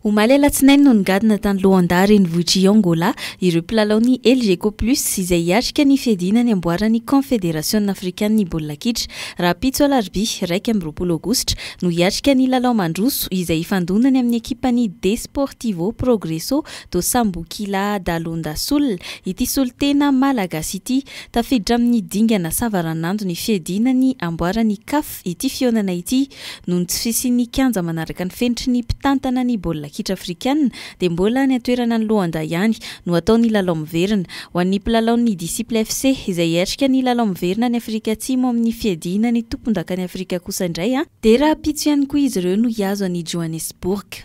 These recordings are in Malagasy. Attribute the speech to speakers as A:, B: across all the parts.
A: Omaly alatsinainy no nigadona tany Luanda renivohitr'i Angola ireo mpilalaon'ny Elgeco Plus izay hiatrika ny fiadiana ny amboaran'ny Kaonfederasiona afrikan'ny baolina kitra. Rahampitso alarobia iraika amby roapolo aogositra no hiatrika ny lalao mandroso izay hifandonany amin'ny ekipan'ny Desportivo Progresso do Sambuquilha da Lunda Sul ity solontena malagasy ity. Tafiditra amin'ny dingana savaranando ny fiadiana ny amboaran'ny CAF. Ity fihaonana ity, noho ny tsy fisian'ny kianja manaraka ny fenitry ny mpitantana ny baolina kitra afrikanina, dia mbola any an-toerana any Luanda ihany no hatao ny lalao miverina. Ho an'ny mpilalaon'ny Disciples FC, izay hiatrika ny lalao miverina any Afrika Atsimo amin'ny fiadiana ny tompondakan'i Afrika kosa indray, dia rahampitso ihany koa izy ireo no hihazo an'i Johannesburg.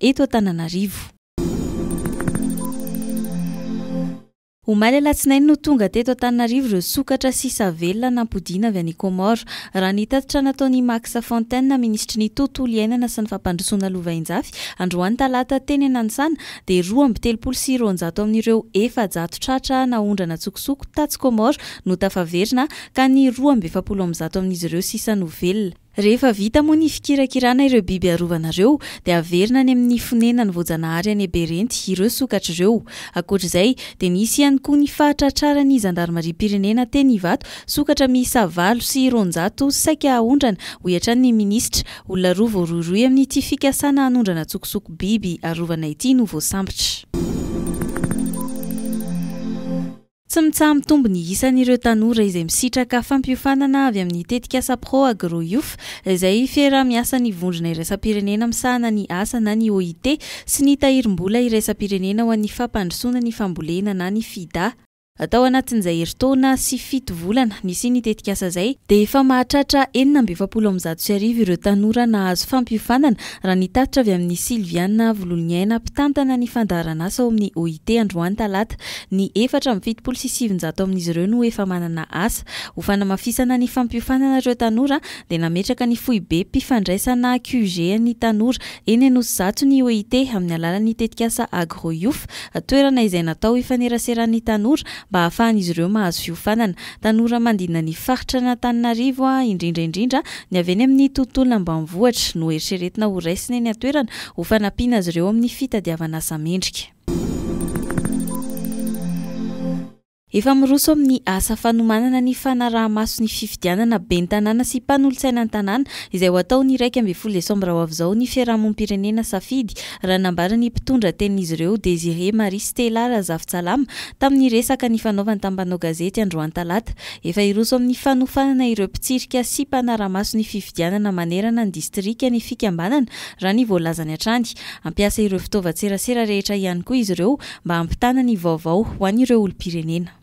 A: eto Antananarivo. Omaly alatsinainy no tonga teto Antananarivo ireo sokatra sisa velona nampodiana avy any Comores. Raha ny tatitra nataon' i Max Fontaine, minisitry ny Tontolo iainana sy ny fampandrosoana lovainjafy, androany talata teny Ananisana, dia roa amby telopolo sy roanjato amin' ireo efajato tratra naondrana an-tsokosoko tatsy Comores no tafaverina, ka ny roa amby efapolo amby zato amin' izy ireo sisa no velona. Rehefa vita moa ny fikirakirana ireo biby arovanareo, dia averina any amin'ny fonenany voajanahary any Eberenty ireo sokatra ireo. Ankoatra izay, dia nisy ihany koa ny fahatratraran'ny zandarimariam-pirenena teny Ivato sokatra miisa valo sy roanjato saika haondrana, hoy hatrany ny minisitra. Olona roa voarohirohy amin'ity fikasana hanondrana antsokosoko biby arovana ity no voasambotra. Tsy mitsaha-mitombo ny isan'ireo tanora izay misitraka fampiofanana avy amin'ny tetikasa Pro-Agro Youth, izay fiaraha-miasan'ny Vondrona Iraisam-pirenena misahana ny asa na ny OIT sy ny Tahirim-bola Iraisam-pirenena ho an'ny Fampandrosoana ny Fambolena na ny Fida. Tao anatin'izay herintaona sy fito volana nisian'ny tetikasa izay, dia efa mahatratra enina amby efapolo amby zato sy arivo ireo tanora nahazo fampiofanana, raha ny tatitra avy amin'i Sylviana Vololoniaina, mpitantana ny fandaharanasa ao amin'ny OIT androany talata Ny efatra amby fitopolo sy sivinjato amin'izy ireo no efa manana asa. Ho fanamafisana ny fampiofanana ireo tanora dia nametraka ny foibem-pifandraisana QG ny tanora eny Anosizato ny OIT amin'ny alalan'ny tetikasa Agro Youth, toerana izay natao hifaneraseran'ny tanora mba hahafahan'izy ireo mahazo fiofanana. Tanora mandina ny faritr'Anatananarivo, indrindra indrindra ny avy eny amin'ny tontolo ambanivohitra, no eritreretina ho raisina eny an-toerana ho fanampiana azy ireo amin'ny fitadiavana asa mendrika. Efa miroso amin'ny asa fanomanana ny fanaraha-maso ny fifidianana ben'ny tanàna sy mpanolotsaina an-tanàna izay ho atao ny iraika ambin'ny folo desambra ho avy izao ny fiarahamonim-pirenena safidy raha nambara ny mpitondra tenin'izy ireo Désiré Marie Stella Razafintsalama tamin'ny resaka nifanaovany tamin'ny mpanao gazety androany talata. Efa hiroso amin'ny fanofanana ireo mpitsirika sy mpanara-maso ny fifidianana manerana ny distrika ny fikambanana raha ny voalazany hatrany. Hampiasa ireo fitaovan-tserasera rehetra ihany koa izy ireo mba hampitana ny vaovao ho an'ireo olom-pirenena.